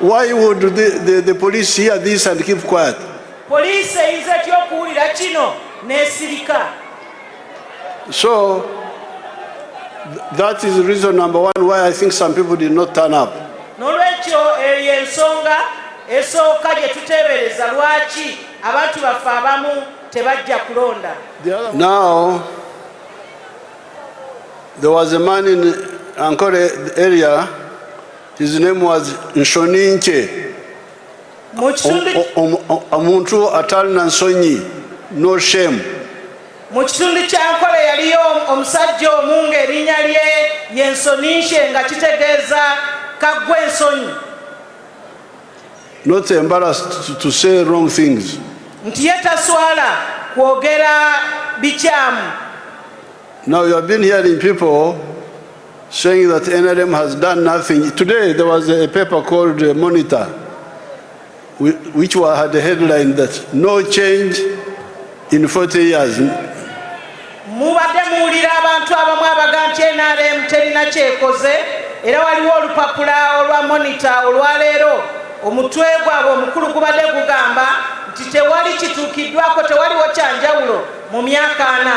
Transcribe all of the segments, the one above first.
Why would the, the, the police hear this and keep quiet? Police eyinza etya okuwulira kino n'esirika? So that is reason number one why I think some people did not turn up. N'olwekyo eyo y'ensonga esooka gye tuteebereza lwaki abantu baffe abamu tebajja kulonda. Now there was a man in Ankole area His name was Nshoninke. Omuntu atalina nsonyi, no shame. Mu kitundu kya Nkole yaliyo omusajja omu ng'erinnya lye ye Nsoninshe nga kitegeeza kaggwa ensonyi. Not embarrassed to say wrong things. Nti ye taswala kwogera bikyamu. Now you have been hearing people saying that NRM has done nothing. Today there was a paper called uh, Monitor, which had a headline that no change in 40 years. mubadde muwulira abantu abamu abaga nti nrm terina kyekoze era waliwo olupapula olwa monita olwaleero omutwe gwabwe omukulu gubadde gugamba nti tewali kituukiddwako tewaliwo kyanjawulo mu myaka ana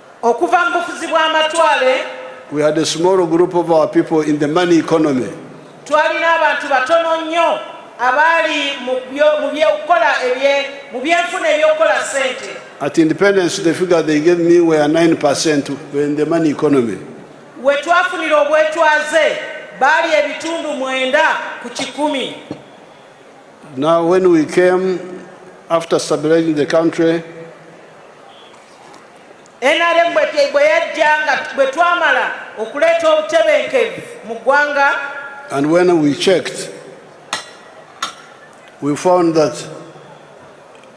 okuva mu bufuzi bw'amatwale We had a small group of our people in the money economy. twalina abantu batono nnyo abaali mu byo- mu by'okukola ebye- mu byenfuna eby'okukola ssente At independence, the figure they gave me were 9% were in the money economy. we twafunira obwetwaze baali ebitundu mwenda ku kikumi Now, when we came after stabilizing the country, NRM bwe yajja nga bwe twamala okuleeta obutebenkevu mu ggwanga And when we checked, we found that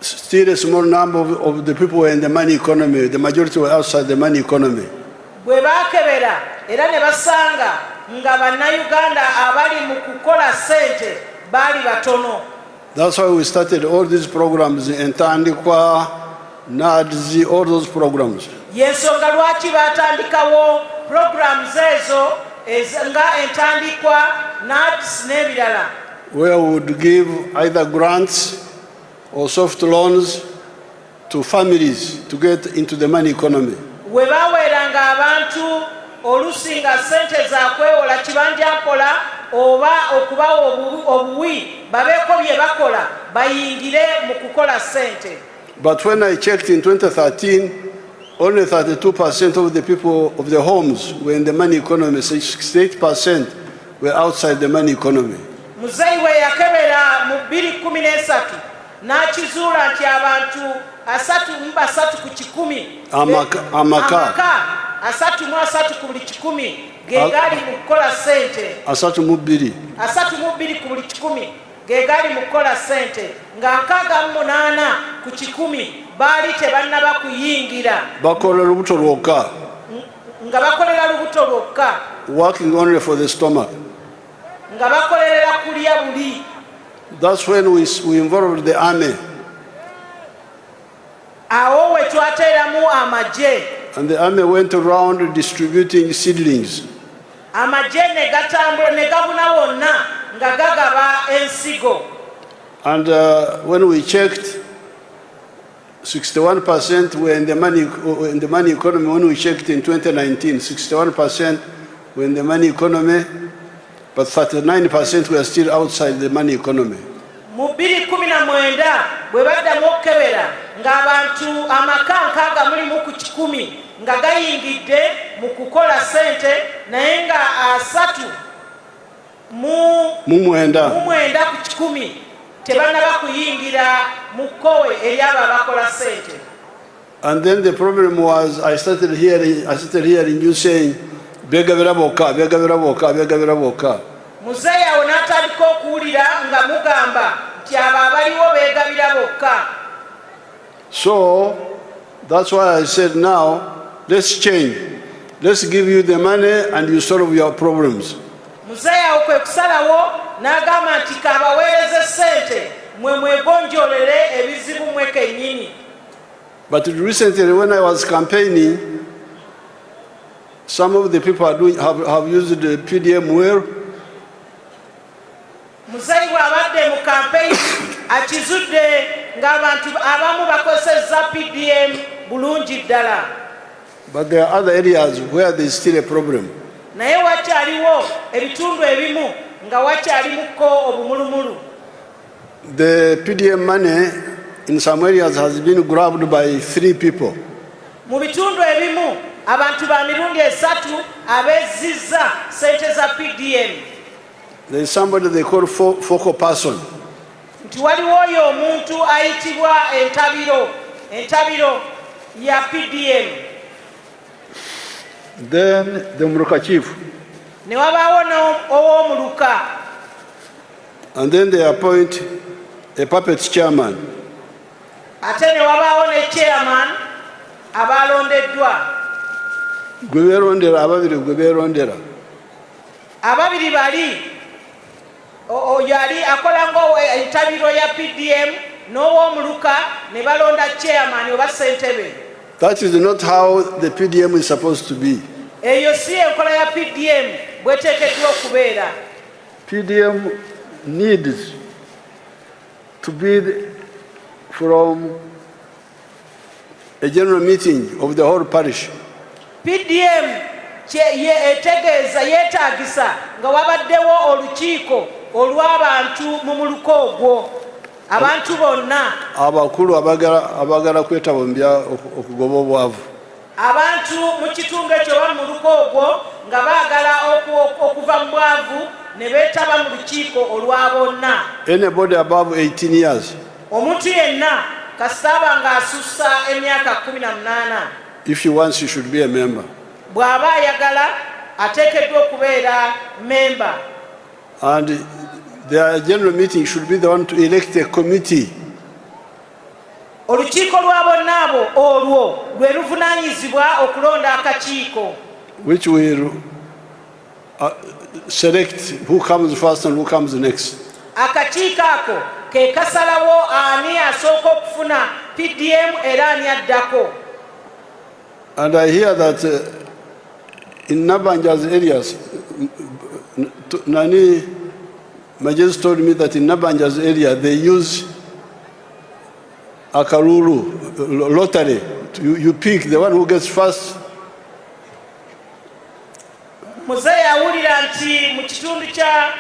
still a small number of, of the people were in the money economy. The majority were outside the money economy. bwe baakebera era ne basanga nga bannayuganda abali mu kukola ssente baali batono That's why we started all these programs in Tandikwa, NADZ, all those programs. Yensonga lwaki batandikawo programs ezo nga entandikwa NADS n'ebirala. Where we would give either grants or soft loans to families to get into the money economy we baweeranga abantu olusi nga sente za kwewola kibanja mpola oba okubawa obuwi babeeko bye bakola bayingire mu kukola sente but when i checked in 2013 only 32 percent of the people of the homes were in the money economy 68 percent were outside the money economy muzeyi we yakebera mu 213 n'akizuula nti abantu asatu mu basatu ku kikumi amaka, amaka. amaka asatu mu asatu ku buli kikumi ge gali mu kukola ssente asatu mu bbiri asatu mu bbiri ku buli kikumi ge gali mu kukola ssente nga nkaaga mu munaana ku kikumi baali tebannaba kuyingira bakola lubuto lwokka nga bakolera lubuto lwokka working only for the stomach nga bakolerera kulya buli That's when we, we involved the army. Awo we twateeramu amagye. And the army went around distributing seedlings. Amagye ne gatambula ne gabuna wonna nga gagaba ensigo. And uh, when we checked 61% were in the money in the money economy when we checked in 2019 61% were in the money economy but 39% were still outside the money economy mu 2019 bwe baddamu okukebera ng'abantu amaka nkaaga mulimu ku kikumi nga gayingidde mu kukola sente naye nga asatu mu mwenda ku kikumi tebanaba kuyingira mu kkowe eryabo abakola sente And then the problem was I started hearing, I started hearing you saying, begabira boka, begabira boka, begabira boka. Muzeyi awo n'atandika okuwulira nga mugamba nti abo abaliwo beegabira bokka. So that's why I said now let's change. Let's give you the money and you solve your problems. Muzeeyi awo kwe kusalawo n'agamba nti kabaweereze ssente mwe mwegonjolere ebizibu mwe kennyini. But recently when I was campaigning some of the people are doing, have, have used the PDM well Muzeeyi bw'abadde mu kampeyini akizudde ng'abantu abamu bakozesezza PDM bulungi ddala. But there are other areas where there is still a problem. naye wakyaliwo ebitundu ebimu nga wakyalimuko obumulumulu The PDM money in some areas has been grabbed by three people. mu bitundu ebimu abantu ba mirundi esatu abezzizza ssente za pdm There is somebody they call fo focal person. Nti waliwo oyo omuntu ayitibwa entabiro entabiro ya PDM. Then the Muruka chief. Ne wabaawo n'ow'omuluka. And then they appoint a puppet chairman. Ate ne wabaawo ne chairman abaalondeddwa. Gwe beerondera ababiri gwe beerondera. Ababiri bali oyo ali akola ngaentabiro ya PDM n'owomuluka ne balonda chairman oba sentebe. That is not how the PDM is supposed to be. Eyo si enkola ya PDM bweteekeddwa okubeera. PDM needs to be from a general meeting of the whole parish. PDM ye etegeeza yeetaagisa nga wabaddewo olukiiko olw'abantu mu muluka ogwo abantu bonna abakulu abagala kwetaba mu bya okugoba obwavu Abantu mu kitundu ekyo oba mu luko ogwo nga baagala okuva mu bwavu ne beetaba mu lukiiko olwa bonna. Anybody above 18 years. Omuntu yenna kasita aba ng'asussa emyaka kkumi na munaana. If he wants, he should be a member. Bw'aba ayagala ateekeddwa okubeera memba. And their general meeting should be the one to elect a committee. Olukiiko lwa bonna abo olwo lwe luvunaanyizibwa okulonda akakiiko. Which will uh, select who comes first and who comes next. Akakiiko ako ke kasalawo ani asooka okufuna PDM era ani addako. And I hear that uh, in Nabanja's areas, nani My just told me that in Nabanja's area they use akaruru lottery. You, you pick the one who gets first. Mzee yawulira nti mu kitundu kya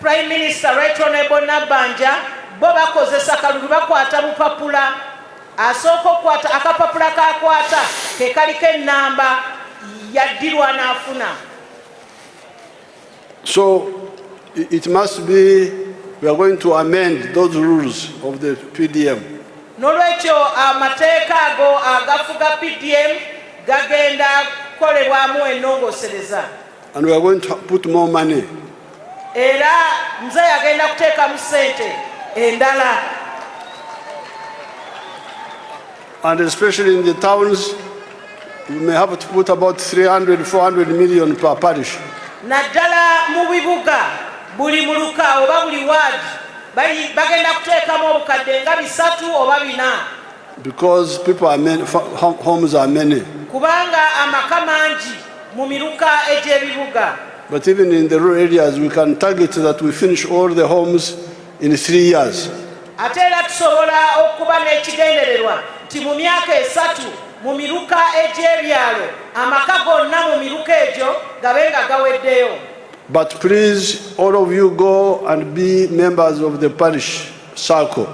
Prime Minister Right Honorable Nabanja bo bakozesa kalulu bakwata bupapula asooka okukwata akapapula kakwata kekaliko ennamba yaddirwa n'afuna So it must be we are going to amend those rules of the PDM. Nolwekyo amateeka ago agafuga PDM gagenda kukolebwamu ennongosereza. And we are going to put more money. Era mzee agenda kuteekamu sente endala. And especially in the towns, you may have to put about 300, 400 million per parish. naddala mu bibuga buli muluka oba buli ward bagenda kuteekamu obukadde nga bisatu oba bina because people are many, homes are many kubanga amaka mangi mu miruka egy'ebibuga but even in the rural areas we can target that we finish all the homes in three years. Ate era tusobola okuba n'ekigendererwa nti mu myaka esatu mu miruka egy'ebyalo amaka gonna mu miruka egyo gabe nga gaweddeyo. But please all of you go and be members of the parish circle.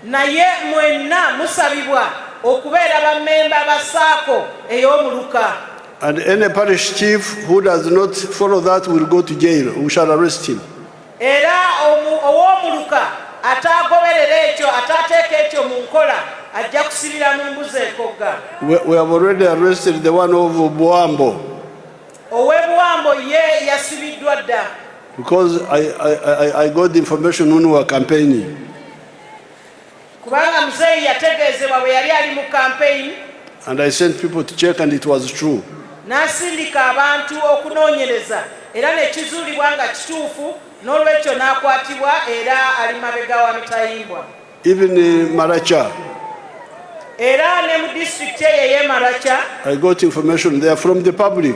Naye mwenna musabibwa okubeera ba memba ba saako ey'omuluka. And any parish chief who does not follow that will go to jail. We shall arrest him. Era ow'omuluka ataagoberera ekyo ataateeka ekyo mu nkola ajja kusibira mu mbuzi ekogga. We have already arrested the one of Buambo. Owe Buambo ye yasibiddwa dda. Because I, I, I, I got the information when we were campaigning. kubanga muzeeyi yategeezebwa bwe yali ali mu kampeyini and I sent people to check and it was true n'asindika abantu okunoonyereza era ne kizuulibwa nga kituufu n'olwekyo n'akwatibwa era ali mabega wa mitayimbwa even uh, Maracha era ne mu disitulikiti eyo ey'e Maracha I got information they are from the public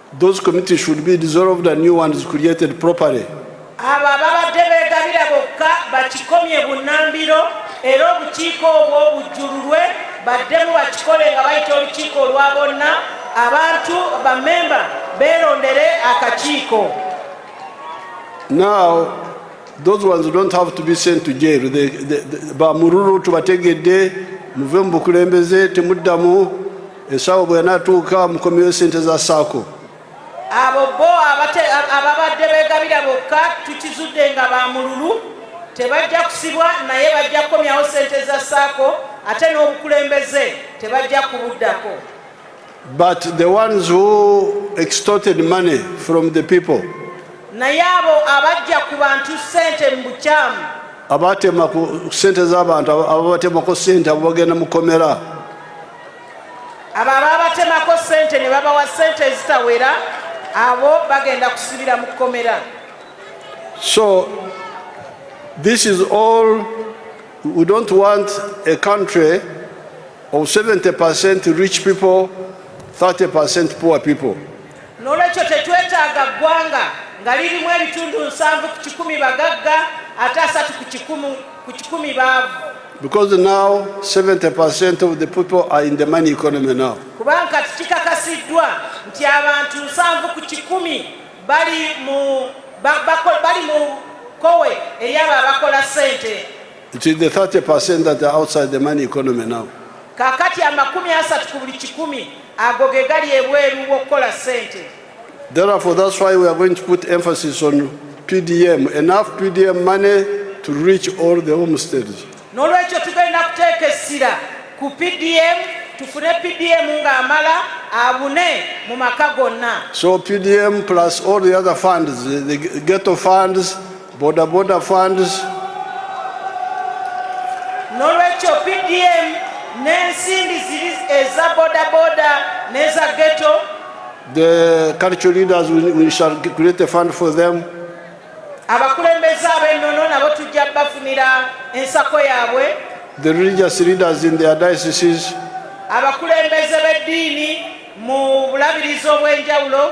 Those committees should be dissolved and new ones created properly. Abo ababadde beegabira bokka bakikomye bunnambiro era obukiiko obwo bujjululwe baddemu bakikole nga bayita olukiiko olwa bonna abantu bamemba beerondere akakiiko. Now those ones don't have to be sent to jail. They, they, they, bamululu tubategedde muve mu bukulembeze temuddamu ensawo bwe yanatuuka mukomyewo sente za saako abo bo ababadde begabira bokka tukizudde nga bamululu tebajja kusibwa naye bajja kukomyawo sente za saako ate n'obukulembeze tebajja kubuddako but the ones who extorted money from the people naye abo abajja ku bantu sente mu bukyamu abatema ku sente z'abantu ababatemako sente abo bagenda mukomera abo abaabatemako ssente ne babawa ssente ezitawera abo bagenda kusibira mu kkomera so this is all we don't want a country of 70 percent rich people 30 percent poor people N'olwekyo tetwetaaga ggwanga nga lirimu ebitundu nsanvu ku kikumi bagagga ate asatu ku kikumu ku kikumi baavu. Because now 70% of the people are in the money economy now. Kubanga kati kikakasiddwa nti abantu nsanvu ku kikumi bali mu bali mu kowe eyaba abakola sente. It is the 30% that are outside the money economy now. Kakati amakumi asatu ku buli kikumi Ago ge gali ebweru w'okukola ssente. Therefore, that's why we are going to put emphasis on PDM, enough PDM money to reach all the homesteads. N'olwekyo tugenda kuteeka essira ku PDM tufune PDM ng'amala abune mu maka gonna. So PDM plus all the other funds, the the ghetto funds, Boda boda funds. Nolwekyo PDM n'ensimbi ziri eza boda boda n'eza ghetto. The cultural leaders we, we shall create a fund for them. Abakulembeze ab'ennono nabo tujja bafunira ensako yaabwe. The religious leaders in their dioceses. Abakulembeze b'eddiini mu bulabirizi obw'enjawulo.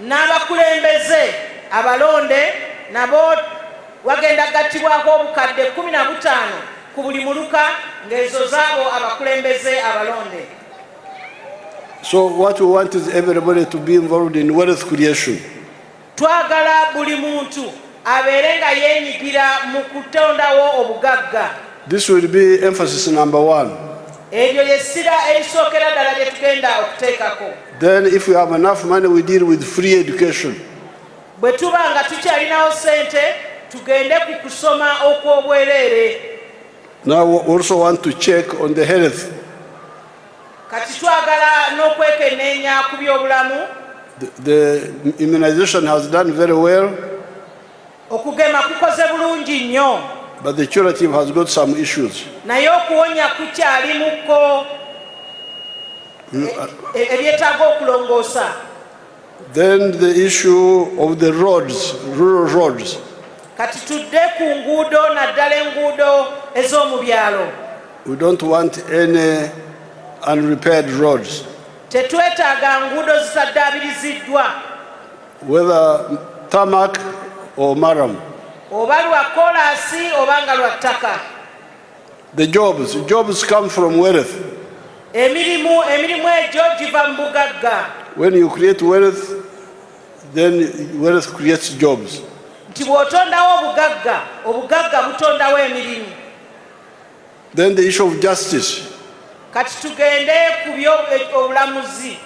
N'abakulembeze abalonde nabo wagenda gattibwako obukadde kkumi na butaano ku buli muluka ng'ezo zaabo abakulembeze abalonde. So what we want is everybody to be involved in wealth creation. Twagala buli muntu abeere nga yeenyigira mu kutondawo obugagga. This will be emphasis number one. Eryo ly'essira erisookera ddala lye tugenda okuteekako. Then if we have enough money we deal with free education. Bwe tuba nga tukyalinawo ssente tugende ku kusoma okw'obwereere. Now we also want to check on the health. kati twagala n'okwekenneenya ku byobulamu the immunization has done very well okugema kukoze bulungi nnyo but the curative has got some issues naye okuwonya kukyalimuko mm, uh, e-, e-, ebyetaaga okulongoosa Then the issue of the roads, rural roads. Kati tudde ku nguudo naddala enguudo ez'omu byalo. We don't want any unrepaired roads. Tetwetaaga nguudo zitaddaabiriziddwa. Whether tarmac or maram. Oba lwa koolaasi oba nga lwa ttaka. The jobs, jobs come from wealth. Emirimu, emirimu egyo giva mu bugagga. When you create wealth, then wealth creates jobs. Nti bw'otondawo obugagga, obugagga butondawo emirimu. Then the issue of justice. Kati tugende ku by'obulamuzi. Eh,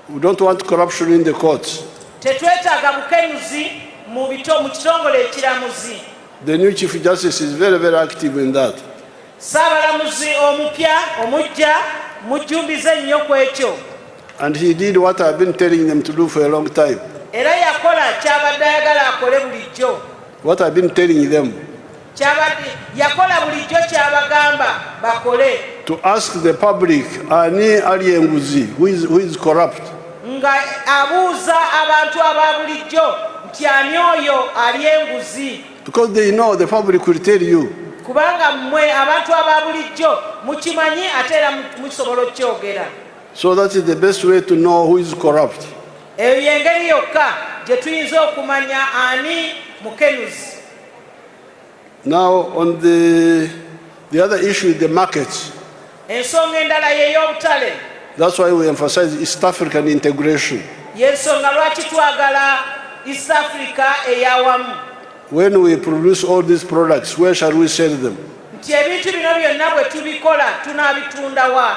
We don't want corruption in the courts. Tetwetaaga bukenuzi mu bito mu kitongole ekiramuzi. The new Chief Justice is very, very active in that. Saabalamuzi omupya omujja mujjumbize nnyo ku ekyo. And he did what I've been telling them to do for a long time. Era yakola ky'abadde ayagala akole bulijjo. What I've been telling them. Ky'abadde yakola bulijjo ky'abagamba bakole. To ask the public ani ali enguzi who is, who is corrupt. nga abuuza abantu aba bulijjo nti ani oyo ali enguzi because they know the public will tell you kubanga mmwe abantu aba bulijjo mukimanyi ate era musobola okukyogera so that is the best way to know who is corrupt eyo yengeri yokka gye tuyinza okumanya ani mukenuzi Now on the, the other issue is the market. Ensonga endala y'ey'obutale. That's why we emphasize East African integration. Y'ensonga lwaki twagala East Africa eyawamu. When we produce all these products, where shall we sell them? Nti ebintu bino byonna bwe tubikola tunaabitunda wa?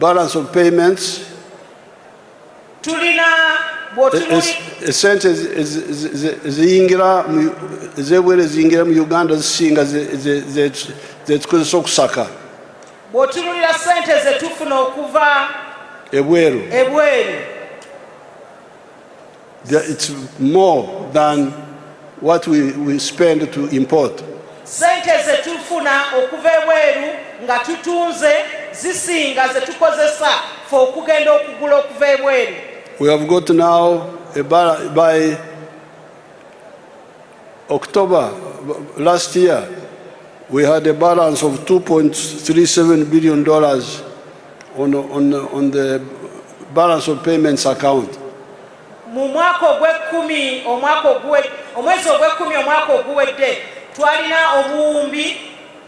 balance of payments tulina esente ziyingira ezebwera eziyingira mu uganda zisinga zetukozesa okusaka bwotunulira sente zetufuna okuva ebweru ebweru It's more than what we, we spend to import. Sente ze tufuna okuva ebweru nga tutunze zisinga ze tukozesa fe okugenda okugula okuva ebweru. We have got now a buy October last year we had a balance of 2.37 billion dollars on, on, on the balance of payments account mu mwaka ogw'ekkumi omwaka oguwe omwezi ogw'ekkumi omwaka oguwedde twalina obuwumbi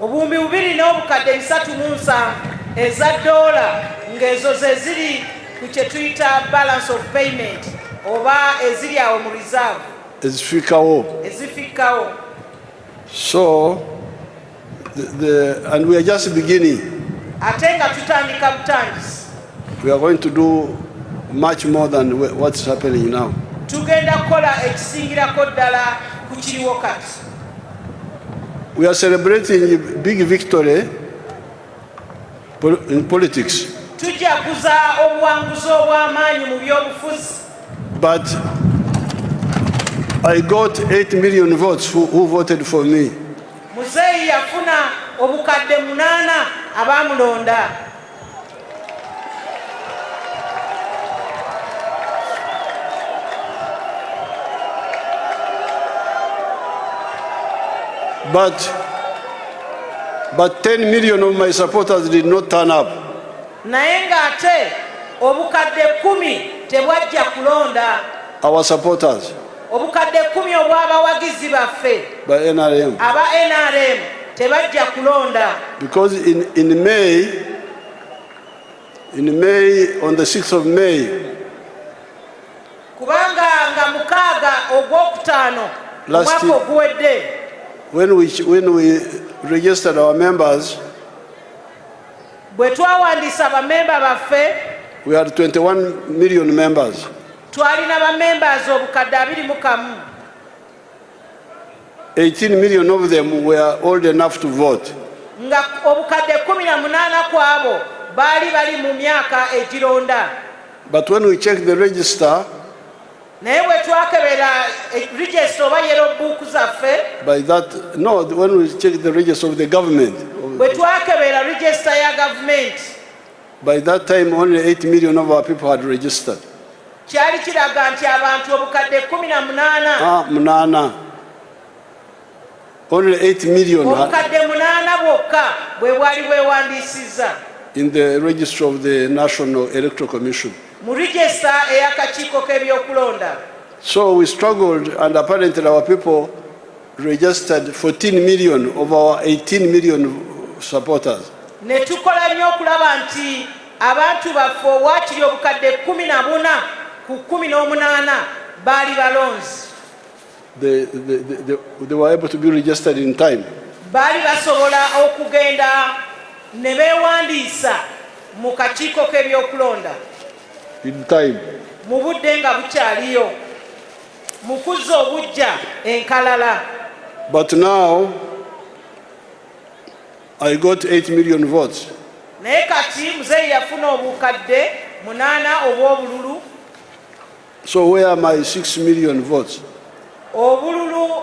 obuwumbi bubiri n'obukadde bisatu mu nsanvu eza doola ng'ezo ze ziri ku kye tuyita balance of payment oba eziri awo mu reserve ezifikkawo ezifikkawo so the, the, and we are just beginning ate nga tutandika butandisi We are going to do much more than what's happening now. Tugenda kola ekisingirako ddala ku kiriwo kati. We are celebrating big victory in politics. Tujaguza obuwanguzi obw'amaanyi mu by'obufuzi. But I got 8 million votes who, who voted for me. Muzeeyi yafuna obukadde munaana abaamulonda. But, but 10 million of my supporters did not turn up. naye ng'ate obukadde kumi tebwajja kulonda Our supporters. obukadde kkumi obw'abawagizi baffe ba nrm aba nrm tebajja kulonda because in, in may in may on the 6th of may kubanga nga mukaaga ogwokutaano omwaka oguwedde when we, when we registered our members bwe twawandiisa bamemba baffe we had 21 million members Twalina ba members obukadde abiri mu kamu. 18 million of them were old enough to vote. Nga obukadde 18 kwabo baali bali mu myaka egironda. But when we check the register, naye bwe twakebera eh, register oba yero buuku zaffe by that no when we check the register of the government bwe twakebera register ya gavumenti By that time only 8 million of our people had registered. Kyali kiraga nti abantu obukadde 18. Ah, munana. Only 8 million. Obukadde munana bwokka bwe bwali bwewandisiza. In the register of the National Electoral Commission. Mu register eyakakiiko k'ebyokulonda. So we struggled and apparently our people registered 14 million of our 18 million supporters ne tukola nnyo okulaba nti abantu baffe owakiri obukadde kumi na buna ku kumi n'omunaana baali balonzi baali basobola okugenda ne beewandiisa mu kakiiko k'ebyokulonda mu budde nga bukyaliyo mu kuzza obuggya enkalala. But now I got 8 million votes. Naye kati muzeeyi yafuna obukadde munaana obw'obululu. So where are my 6 million votes? Obululu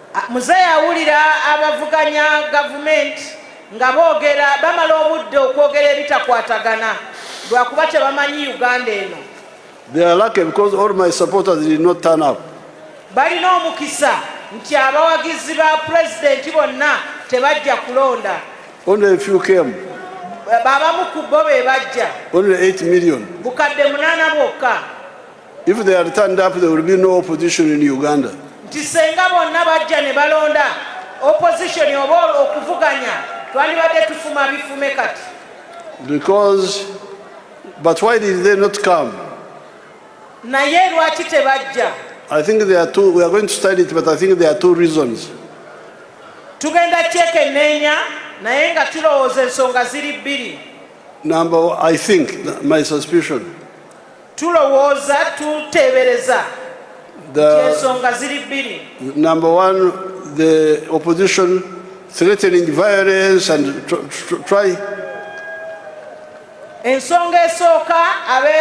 Muzeeyi awulira abavuganya gavumenti nga boogera bamala obudde okwogera ebitakwatagana lwakuba tebamanyi Uganda eno. They are lucky because all my supporters did not turn up. Balina omukisa nti abawagizi ba pulezidenti bonna tebajja kulonda. Only a few came. Babamu ku bo be bajja. Only 8 million. Bukadde munaana bwokka. If they are turned up, there will be no opposition in Uganda. Nti senga bonna bajja ne balonda opposition oba okuvuganya twandibadde tufuma bifume kati. Because but why did they not come? Naye lwaki tebajja? I think there are two we are going to study it but I think there are two reasons. Tugenda kyekenneenya naye nga tulowooza ensonga ziri bbiri. Number I think my suspicion tulowooza tuteebereza ensonga ziri bbiri number one the opposition threatening violence and try ensonga esooka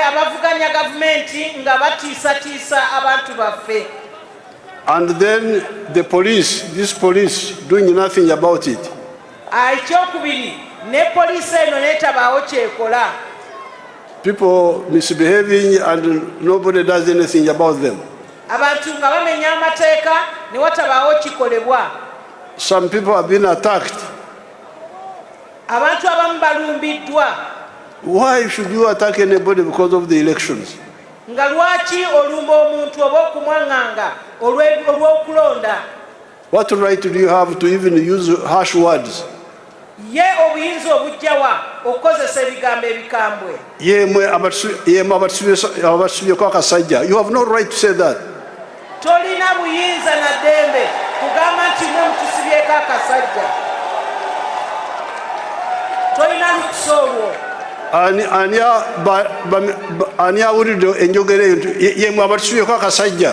abavuganya gavumenti nga batiisatiisa abantu baffe and then the police this police doing nothing about it ekyokubiri ne poliisi eno netabaawo kyekola People misbehaving and nobody does anything about them. Abantu nga bamenya amateeka ne watabaawo kikolebwa. Some people have been attacked. Abantu abamu balumbiddwa. Why should you attack anybody because of the elections? nga lwaki olumba omuntu oba okumwaŋŋanga olw'okulonda What right do you have to even use harsh words? Ye obuyinza obujjawa okukozesa ebigambo ebikambwe. Yemwe yemwe abatusubyeko akasajja. You have no right to say that. Tolina buyinza na dembe kugamba nti mwe mutusibyeko akasajja. Tolina lukusa olwo. Ani awulidde enjogera eyo yemwe abatusubyeko akasajja.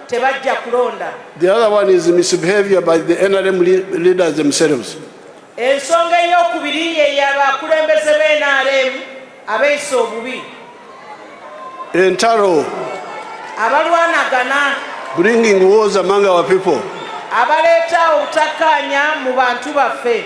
tebajja kulonda the other one is misbehavior by the nrm leaders themselves ensonga eyokubiri yeyabakulembeze be nrm abeeyisa obubi entalo abalwanagana bringing wars among our people abaleeta obutakkaanya mu bantu baffe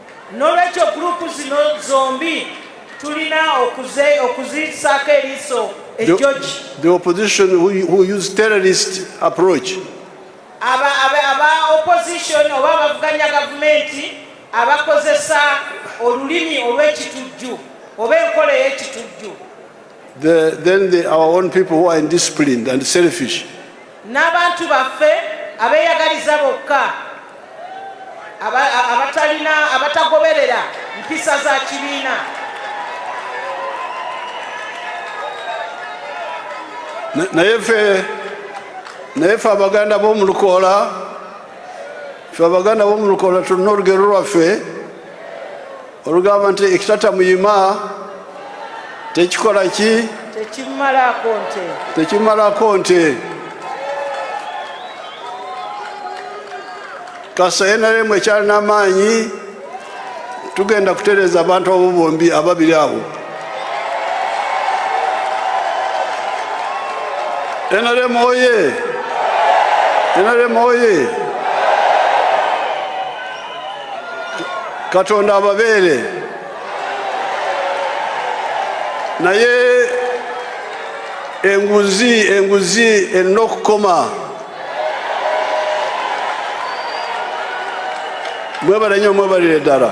Nolwekyo group zino zombi tulina okuzisaako eriiso ejjoji. The opposition who, who use terrorist approach. Aba, aba, aba opposition oba abavuganya gavumenti abakozesa olulimi olw'ekitujju oba enkola ey'ekitujju. The, then the, our own people who are indisciplined and selfish. N'abantu baffe abeeyagaliza bokka abatalina abatagoberera mpisa za kibiina. naye ffe naye ffe abaganda b'omu lukoola ffe abaganda b'omu lukoola tulina olugero lwaffe olugamba nti ekitata muyima tekikola ki tekimalako nte tekimalako nte kasa nrm ekyalina amaanyi tugenda kutereeza abantu abo bombi ababiri abo nrm oye nrm oye katonda ababeere naye enguzi enguzi erina okukoma mwebale nyo mwebalire ddala